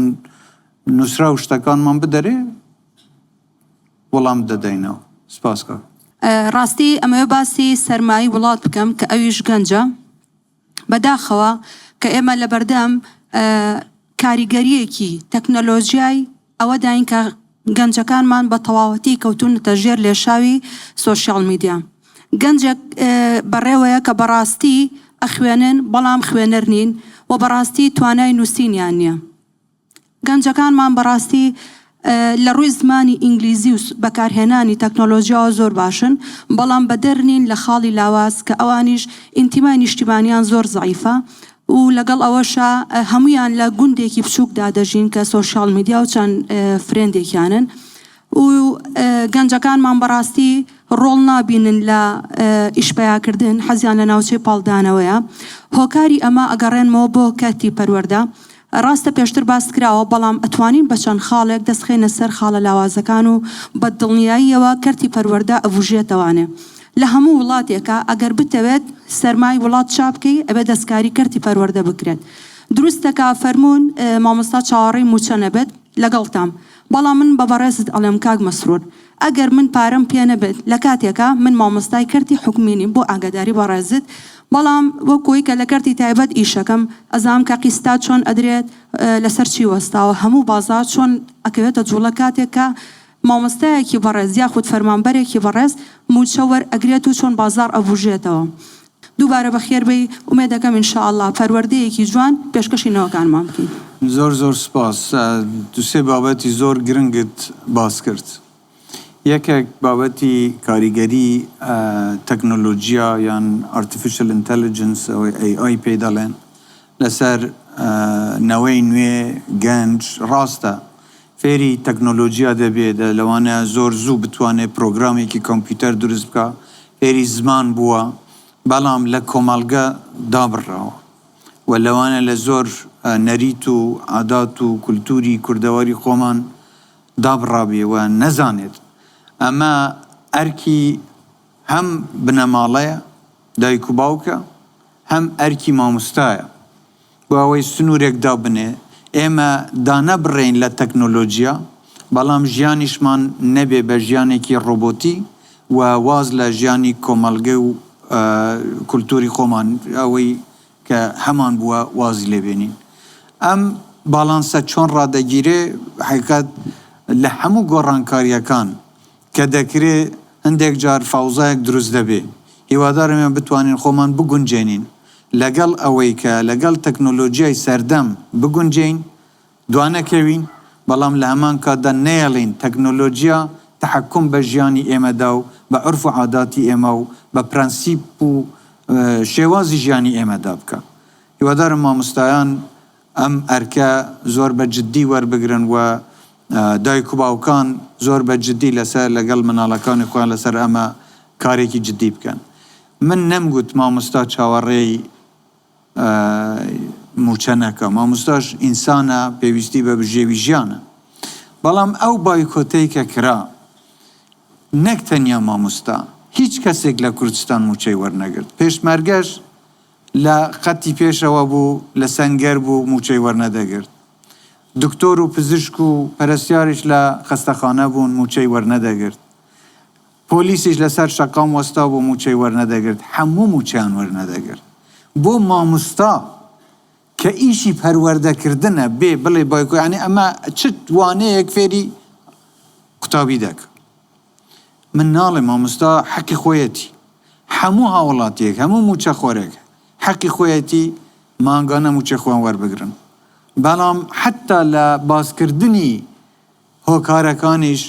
Speaker 3: نووسرا و شتەکانمان بدەرێ وەڵام دەدەینەوە سپاس کە. ڕاستی
Speaker 2: ئەمەوێ باسی سەرمایی وڵات بکەم کە ئەویش گەنجە بەداخەوە کە ئێمە لەبەردەم کاریگەریەکی تەکنەلۆژیای ئەوەداین کە گەنجەکانمان بە تەواوەتی کەوتوونەتە ژێر لێشاوی سۆشیاڵ میدیا. گەنجێک بەڕێوەیە کە بەڕاستی ئەخوێنن بەڵام خوێنەر نین و بەڕاستی توانای نووسینیان نییە. گەنجەکانمان بەڕاستی لە ڕووی زمانی ئینگلیزی و بەکارهێنانی تەکنۆلۆژیاوە زۆر باشن بەڵام بەدەر نین لە خاڵی لاواز کە ئەوانیش ئینتیمای نیشتیمانیان زۆر زەعیفە و لەگەڵ ئەوەشا هەموویان لە گوندێکی بچووکدا دەژین کە سۆشیاڵ میدیا و چەند فرێندێکیانن و گەنجەکانمان بەڕاستی ڕۆڵ نابینن لە ئیش پەیاکردن حەزیان لە ناوچەی پاڵدانەوەیە هۆکاری ئەمە ئەگەڕێنمەوە بۆ کەرتی پەروەردە ڕاستە پێشتر باس کراوە بەڵام ئەتوانین بە چەند خاڵێک دەست خەینە سەر خاڵە لاوازەکان و بە دڵنیاییەوە کەرتی پەروەردە ئەبوژێتەوانێ لە هەموو وڵاتێکا ئەگەر بتەوێت سەرمای وڵات چابکەی ئەبێت دەستکاری کەرتی پەروەردە بکرێت دروستە کە فەرموون مامۆستا چاوەڕێی موچە نەبێت لەگەڵتام بەڵام من بە بەڕێزت ئەڵێم کاک مەسرور ئەگەر من پارەم پێ نەبێت لە کاتێکا من مامۆستای کەرتی حکومی نیم بۆ ئاگاداری بەڕێزت بەڵام وەکۆی کە لە کەرتی تایبەت ئیشەکەم ئەزانم کە قیستات چۆن ئەدرێت لەسەر چی وەستاوە هەموو بازار چۆن ئەکەوێتە جوڵە کاتێک کە مامۆستایەکی بەڕێز یاخود فەرمانبەرێکی بەڕێز مووچە وەر ئەگرێت و چۆن بازاڕ ئەبووژێتەوە؟ دووبارە بەخێر بێی، ئومێدەکەم ان شاء اللە پەروەردەیەکی جوان پێشکەشی نەوەکانمان بکەی. زۆر زۆر سوپاس
Speaker 3: دوو سێ بابەتی زۆر گرنگت باس کرد یەکێک بابەتی کاریگەری تەکنۆلۆجیا یان ئارتیفیشل ئینتەلیجنس ئەوەی ئەی ئای پێی دەڵێن لەسەر نەوەی نوێ گەنج ڕاستە فێری تەکنۆلۆجیا دەبێ، لەوانەیە زۆر زوو بتوانێ پرۆگرامێکی کۆمپیوتەر دروست بکا، فێری زمان بووە، بەڵام لە کۆمەڵگە دابڕراوە و لەوانەیە لە زۆر نەریت و عادات و کولتووری کوردەواری خۆمان دابڕابێ و نەزانێت. ئەمە ئەرکی هەم بنەماڵەیە، دایک و باوکە، هەم ئەرکی مامۆستایە. بۆ ئەوەی سنوورێک دابنێ، ئێمە دانەبڕێین لە تەکنۆلۆجیا، بەڵام ژیانیشمان نەبێ بە ژیانێکی ڕۆبۆتی و واز لە ژیانی کۆمەڵگە و کولتووری خۆمان، ئەوەی کە هەمان بووە، وازی لێ بێنین. ئەم باڵانسە چۆن ڕادەگیرێ؟ حەقیقەت لە هەموو گۆڕانکارییەکان کە دەکرێ هەندێک جار فاوزایەک دروست دەبێ، هیوادارم ئێمە بتوانین خۆمان بگونجێنین لەگەڵ ئەوەی کە لەگەڵ تەکنۆلۆجیای سەردەم بگونجێین، دوانەکەوین، بەڵام لە هەمان کاتدا نەیەڵین تەکنۆلۆجیا تەحەکوم بە ژیانی ئێمەدا و بە عورف و عاداتی ئێمە و بە پرەنسیپ و شێوازی ژیانی ئێمەدا بکا. هیوادارم مامۆستایان. ئەم ئەرکە زۆر بە جددی وەربگرن و دایک و باوکان زۆر بە جددی لەسەر لەگەڵ مناڵەکانی خۆیان لەسەر ئەمە کارێکی جددی بکەن من نەمگوت مامۆستا چاوەڕێی موچە نەکا مامۆستاش ئینسانە پێویستی بە بژێوی ژیانە بەڵام ئەو بایکۆتەی کە کرا نەک تەنیا مامۆستا هیچ کەسێک لە کوردستان موچەی وەرنەگرت پێشمەرگەش لە خەتی پێشەوە بوو، لە سەنگەر بوو مووچەی وەرنەدەگرت. دکتۆر و پزیشک و پەرستیاریش لە خەستەخانە بوون مووچەی وەرنەدەگرت. پۆلیسیش لەسەر شەقام وەستابوو مووچەی وەرنەدەگرت. هەموو مووچەیان وەرنەدەگرت. بۆ ماموستا کە ئیشی پەروەردەکردنە بێ بڵێ بایکۆ یانی ئەمە چ وانەیەک فێری قوتابی دەکا. من ناڵێم مامۆستا حەقی خۆیەتی هەموو هاوڵاتیەک هەموو مووچەخۆرێک حەقی خۆیەتی مانگانە مووچەی خۆیان وەربگرن بەڵام حەتا لە باسکردنی هۆکارەکانیش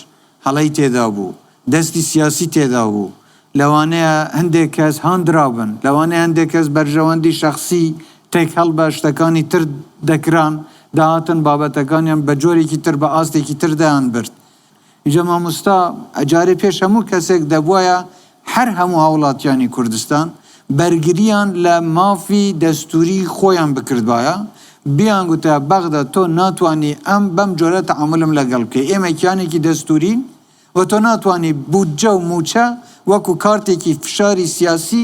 Speaker 3: هەڵەی تێدابوو دەستی سیاسی تێدابوو لەوانەیە هەندێک کەس هاندرابن لەوانەیە هەندێک کەس بەرژەوەندی شەخسی تێکەڵ بە شتەکانی تر دەکران دەهاتن بابەتەکانیان بە جۆرێکی تر بە ئاستێکی تر دەیانبرد ئینجا مامۆستا جارێ پێش هەموو کەسێک دەبوایە هەر هەموو هاوڵاتیانی کوردستان بەرگریان لە مافی دەستووری خۆیان بکردبایە بیان گوتە بەغدا تۆ ناتوانی ئەم بەم جۆرە تەعامولم لەگەڵ بکەی ئێمە کیانێکی دەستوورین و تۆ ناتوانی بودجە و مووچە وەکو کارتێکی فشاری سیاسی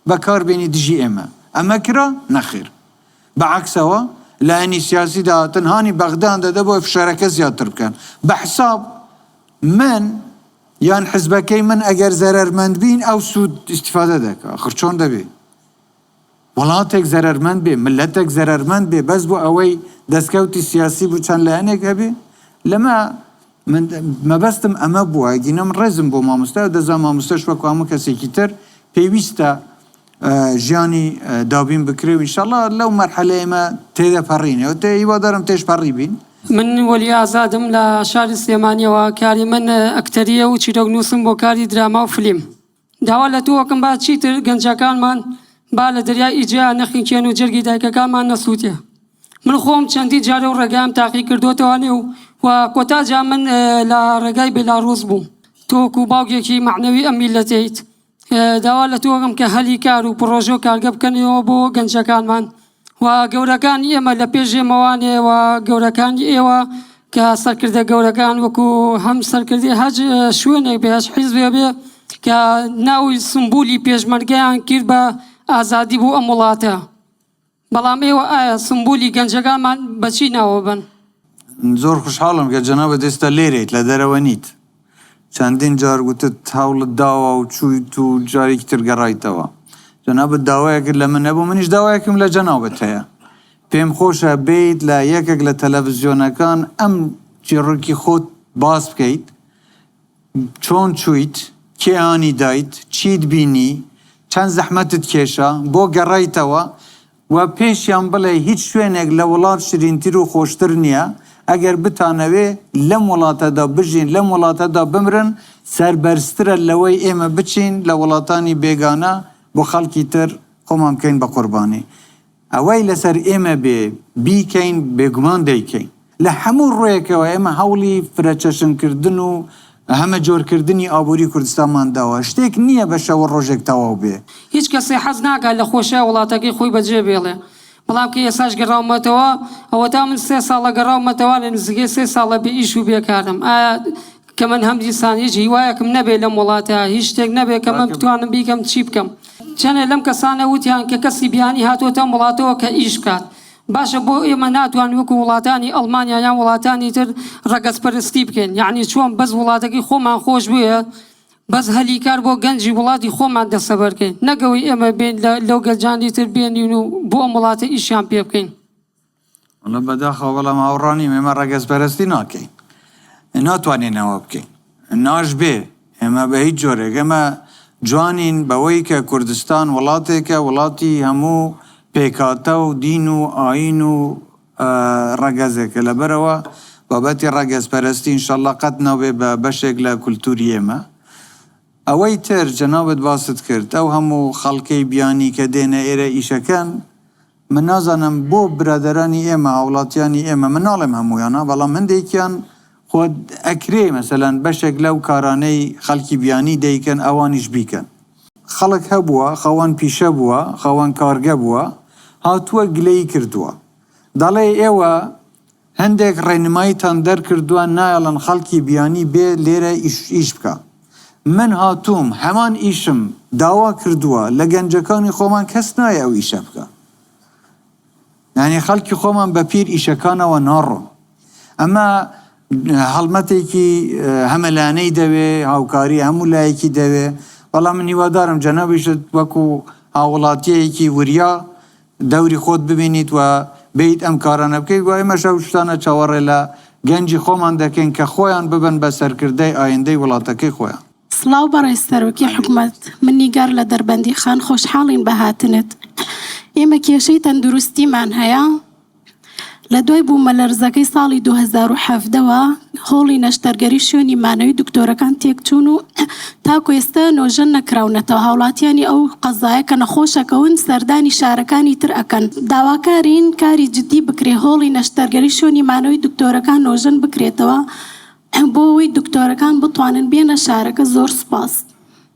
Speaker 3: بەکاربێنی دژی ئێمە ئەمە کرا؟ نەخێر. بە عەکسەوە لایەنی سیاسی داهاتن هانی بەغدان دەدە بۆی فشارەکە زیاتر بکەن بە حساب من یان حزبەکەی من ئەگەر زەرەرمەند بین ئەو سوود ئیسیفادە دەکە خرچۆن دەبێ وڵاتێک زەرەرمەند بێ ملەتێک زەرەرمەند بێ بەس بۆ ئەوەی دەستکەوتی سیاسی بوو چەند لایەنێک هەبێ لەمە من مەبەستم ئەمە بووە گینەم ڕێزم بۆ مامۆستا دەزان مامۆستەش وەکوامە کەسێکی تر پێویستە ژیانی دابین بکرێ و انشاللە لەو مەرحەلەی ئێمە تێدەپەڕین و هیوادارم تێش پەڕیبین. من وەلی
Speaker 12: ئازادم لە شاری سلێمانیەوە کاری من ئەکتەریە و چیرۆک نوسم بۆ کاری دراما و فلیم داوا لە تۆ ئەکەم با چیتر گەنجەکانمان با لە دەریای ئیجەیا نەخنکێن و جەرگی دایکەکانمان نەسوتێ من خۆم چەندی جار و ڕێگام تاقی کردۆتەوە نێ و و کۆتا جا من لە ڕێگای بێلاڕوس بووم تۆ وەکو باوکێکی مەعنەوی ئەم میلەتەیت داوا لە تۆ ئەکەم کە هەلی کار و پڕۆژە و کارگە بکەنەوە بۆ گەنجەکانمان و گەورەکانی ئێمە لە پێش ئێمەوانێ و گەورەکانی ئێوە کە سەرکردە گەورەکان وەکو هەم سەرکردی هەج شوێنێک بێ هەج حیزبێ بێ کە ناوی سمبولی پێشمەرگەیان کرد بە ئازادی بۆ ئەم وڵاتە بەڵام ئێوە ئایا سمبولی گەنجەگانمان بە چی ناوە بەن؟ زۆر
Speaker 3: خوشحاڵم کە جەنابت ئێستا لێرەیت، لە دەرەوە نیت. چەندین جار گوتت هەوڵت داوە و چوویت و جارێکی تر گەڕایتەوە. جەنابت داوایەکت لە من هەبوو، منیش داوایەکم لە جەنابت هەیە. پێم خۆشە بێیت لە یەکێک لە تەلەفزیۆنەکان ئەم چیڕۆکی خۆت باس بکەیت. چۆن چوویت؟ کێ هانی دایت؟ چیت بینی؟ چەند زەحمەتت کێشا؟ بۆ گەڕایتەوە؟ و پێشیان بڵێ هیچ شوێنێک لە وڵات شرینتر و خۆشتر نییە، ئەگەر بتانەوێ لەم وڵاتەدا بژین، لەم وڵاتەدا بمرن، سەربەرزترە لەوەی ئێمە بچین لە وڵاتانی بێگانە بۆ خەڵکی تر خۆمان بکەین بە قوربانی. ئەوەی لەسەر ئێمە بێ بیکەین بێگومان دەیکەین. لە هەموو ڕووێکەوە ئێمە هەوڵی فرەچەشنکردن و هەمەجۆرکردنی ئابووری کوردستانمان داوە، شتێک نییە بە شەو و ڕۆژێک تەواو بێ. هیچ کەسێ حەز
Speaker 12: ناکات لە خۆشیای وڵاتەکەی خۆی بەجێ بێڵێ، بەڵام کە ئێستاش گەڕاومەتەوە، ئەوەتا من سێ ساڵە گەڕاومەتەوە، لە نزیکەی سێ ساڵە بێ ئیش و بێ کارم، ئایا کە من هەم دیسان هیچ هیوایەکم نەبێ لەم وڵاتە هیچ شتێک نەبێ کە من بتوانم بیکەم چی بکەم چەنێ لەم کەسانە وتیان کە کەسی بیانی هاتۆتە ئەم وڵاتەوە کە ئیش بکات باشە بۆ ئێمە ناتوان وەکو وڵاتانی ئەڵمانیا یان وڵاتانی تر ڕەگەز پەرستی بکەین یعنی چۆن بەس وڵاتەکەی خۆمان خۆش بوێ بەس هەلی کار بۆ گەنجی وڵاتی خۆمان دەسەبەرکەین نەگەوەی ئێمە بێن لەو گەنجانی تر بێنین و بۆ ئەم وڵاتە ئیشیان پێ بکەین وەڵا
Speaker 3: بەداخەوە بەڵام هاوڕا نیم ئێمە ڕەگەزپەرەستی ناکەین ناتوانین ئەوە بکەین ناشبێ ئێمە بە هیچ جۆرێک ئێمە جوانین بەوەی کە کوردستان وڵاتێکە وڵاتی هەموو پێکهاتە و دین و ئاین و ڕەگەزێکە لەبەرەوە بابەتی ڕەگەزپەرەستی ئینشەڵا قەت نابێ بە بەشێک لە کولتووری ئێمە ئەوەی تر جەنابت باست کرد ئەو هەموو خەڵکەی بیانی کە دێنە ئێرە ئیشەکەن من نازانم بۆ برادەرانی ئێمە هاوڵاتیانی ئێمە من ناڵێم هەموویانا بەڵام هەندێکیان خۆ ئەکرێ مەسەلەن بەشێک لەو کارانەی خەڵکی بیانی دەیکەن ئەوانیش بیکەن خەڵک هەبووە خاوەن پیشە بووە خاوەن کارگە بووە هاتووە گلەیی کردووە دەڵێ ئێوە هەندێک ڕێنماییتان دەرکردوە نایەڵن خەڵکی بیانی بێ لێرە ئیش بکا من هاتووم هەمان ئیشم داوا کردوە لە گەنجەکانی خۆمان کەس نایە ئەو ئیشە بکا یانی خەڵکی خۆمان بە پیر ئیشەکانەوە ناڕۆن ئەمە هەڵمەتێکی هەمەلانەی دەوێ هاوکاری هەموو لایەکی دەوێ بەڵام من هیوادارم جەنابیشت وەکو هاوڵاتیەکی وریا دەوری خۆت ببینیت و بێیت ئەم کارانە بکەیت و ئێمەش ئەو شتانە چاوەڕێ لە گەنجی خۆمان دەکەین کە خۆیان ببن بە سەرکردەی ئایندەی وڵاتەکەی خۆیان. سڵاو بەڕێز
Speaker 13: سەرۆکی حکومەت من نیگار لە دەربەندیخان خۆشحاڵین بە هاتنت ئێمە کێشەی تەندروستیمان هەیە لە دوای بوومەلەرزەکەی ساڵی دوو هەزار و حەڤدە وە هۆڵی نەشتەرگەری شوێنی مانەوەی دکتۆرەکان تێکچوون و تاکو ئێستا نۆژەن نەکراونەتەوە هاوڵاتیانی ئەو قەزایە کە نەخۆشەکەون سەردانی شارەکانی تر ئەکەن داواکارین کاری جدی بکرێ هۆڵی نەشتەرگەری شوێنی مانەوەی دکتۆرەکان نۆژەن بکرێتەوە بۆ ئەوەی دکتۆرەکان بتوانن بێنە شارەکە زۆر سوپاس.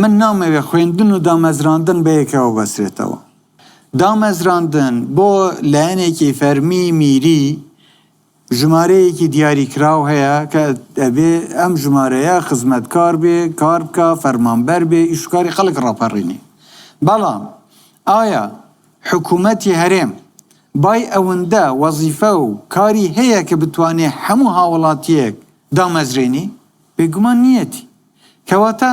Speaker 3: من نامەوێت خوێندن و دامەزراندن بەیەکەوە بەسرێتەوە. دامەزراندن بۆ لایەنێکی فەرمی میری ژمارەیەکی دیاریکراو هەیە کە دەبێت ئەم ژمارەیە خزمەتکار بێت، کار بکات، فەرمانبەر بێت، ئیش و کاری خەڵک ڕاپەڕینێ. بەڵام ئایا حکوومەتی هەرێم بای ئەوندە وەزیفە و کاری هەیە کە بتوانێت هەموو هاوڵاتییەک دامەزرێنی؟ بێگومان نییەتی. کەواتە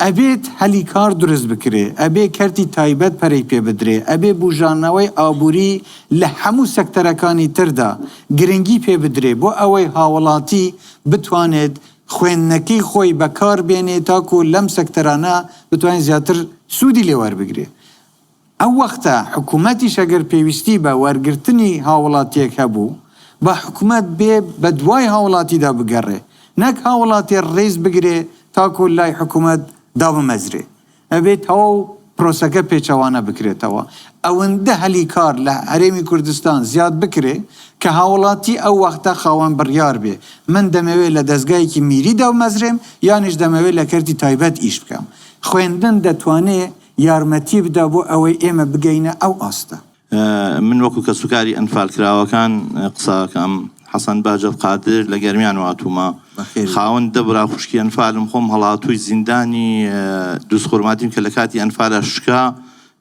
Speaker 3: ئەبێت هەلی کار دروست بکرێ، ئەبێ کەرتی تایبەت پەرەی پێ بدرێ، ئەبێ بوژانەوەی ئابووری لە هەموو سەکتەرەکانی تردا گرنگی پێ بدرێ بۆ ئەوەی هاوڵاتی بتوانێت خوێندنەکەی خۆی بەکار بێنێ تاکوو لەم سەکتەرانە بتوانێ زیاتر سوودی لێ وەربگرێ. ئەو وەختە حکومەتیش ئەگەر پێویستی بە وەرگرتنی هاوڵاتیەک هەبوو با حکومەت بێ بە دوای هاوڵاتیدا بگەڕێ نەک هاوڵاتێ ڕێز بگرێ تاکۆ لای حکومەت دابمەزرێ ئەبێ تەواو پرۆسەکە پێچەوانە بکرێتەوە ئەوەندە هەلی کار لە هەرێمی کوردستان زیاد بکرێ کە هاوڵاتی ئەو وەختە خاوەن بڕیار بێ من دەمەوێ لە دەزگایەکی میری دابمەزرێم یانیش دەمەوێ لە کەرتی تایبەت ئیش بکەم خوێندن دەتوانێ یارمەتی بدا بۆ ئەوەی ئێمە بگەینە ئەو ئاستە. من وەکو
Speaker 14: کەسوکاری ئەنفالکراوەکان قسە ئەکەم، حەسەن بەهجەت قادر لە گەرمیان واتوومە، خاوەن دە برا خوشکی ئەنفالم، خۆم هەڵاتووی زیندانی دوزخورماتیم کە لە کاتی ئەنفالا شکا،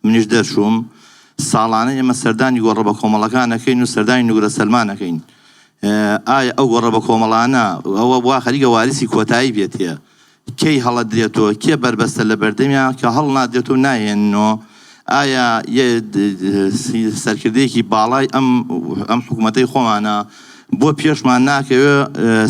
Speaker 14: منیش دەرچووم، ساڵانە ئێمە سەردانی گۆڕە بەکۆمەڵەکان ئەکەین و سەردانی نوگرە سەلمان ئەکەین، ئایا ئەو گۆڕە بەکۆمەڵانە ئەوە وا خەریکە وارسی کۆتایی پێ تێ کەی هەڵەدرێت و کێ بەربەستە لە بەردەمیان کە هەڵنادرێت و ناهێنن و ئایا یە سەرکردەیەکی باڵای ئەم ئەم حکومەتەی خۆمانە بۆ پێشمان ناکەوێ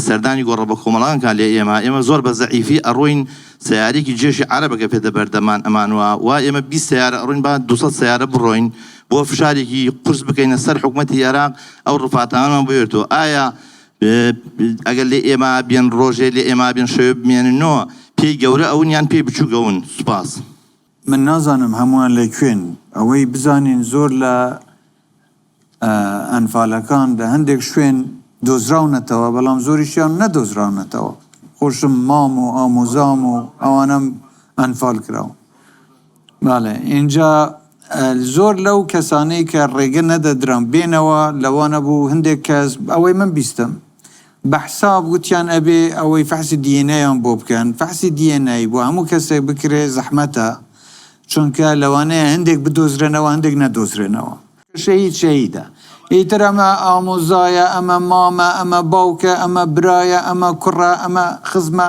Speaker 14: سەردانی گۆڕە بە کۆمەڵان کا لێ ئێمە ئێمە زۆر بە زەعیفی ئەڕۆین سیارێکی جێشی عەرەبەکە پێدە بەردەمان ئەمان وە وا ئێمە بی سیارە ئەڕۆین با دو سیارە بڕۆین بۆ فشارێکی قورس بکەینە سەر حکوومەتتی عێراق ئەو ڕفاتانەمان بێتەوە ئایا ئەگەر لێ ئێما بێن ڕۆژێ لێ ئێما بێن شەوێ بمێننۆ پێی گەورە ئەون یان پێی بچووک ئەون سوپاس. من
Speaker 3: نازانم هەموان لە کوێن ئەوەی بزانین زۆر لە ئەنفالەکان لە هەندێک شوێن دۆزراونەتەوە بەڵام زۆریشیان نەدۆزراونەتەوە خۆشم مام و ئامۆزام و ئەوانەم ئەنفال کراون. بەڵێ ئینجا زۆر لەو کەسانەی کە ڕێگە نەدەدران بێنەوە لەوانە بوو هەندێک کەس ئەوەی من بیستم بە حساب وتیان ئەبێ ئەوەی فەحسی دی ئێن ئەیان بۆ بکەن فەحسی دی ئێن ئەی بۆ هەموو کەسێک بکرێ زەحمەتە چونکە لەوانەیە هەندێک بدۆزرێنەوە هەندێک نەدۆزرێنەوە. شەهید شەهیدە ئیتر ئەمە ئامۆزایە ئەمە مامە ئەمە باوکە ئەمە برایە ئەمە کوڕە ئەمە خزمە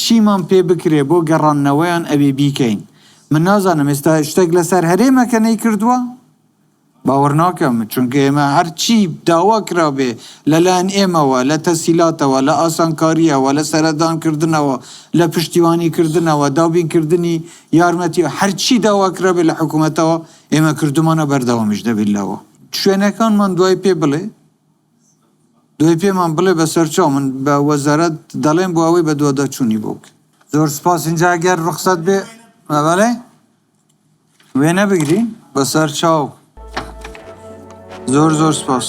Speaker 3: چیمان پێ بکرێ بۆ گەڕاندنەوەیان ئەبێ بیکەین من نازانم ئێستا شتێک لەسەر هەرێمەکە نەیکردووە؟ باوەڕناکەم چونکە ئێمە هەرچی داوا کرابێ لەلایەن ئێمەوە لە تەسیلاتەوە لە ئاسانکاریەوە لە سەردان کردنەوە لە پشتیوانی کردنەوە دابین کردنی یارمەتی هەرچی داوا کرابێ لە حکومەتەوە ئێمە کردومانە بەردەوامیش دەبین لەوە شوێنەکانمان دوای پێ بڵێ دوای پێمان بڵێ بەسەر چاو من بە وەزارەت دەڵێم بۆ ئەوەی بە دوادا چوونی بۆ بکە زۆر سپاس اینجا گەر ڕخسەت بێ مەبەڵێ وێ نەبگری بەسەر چاو زۆر زۆر سپاس.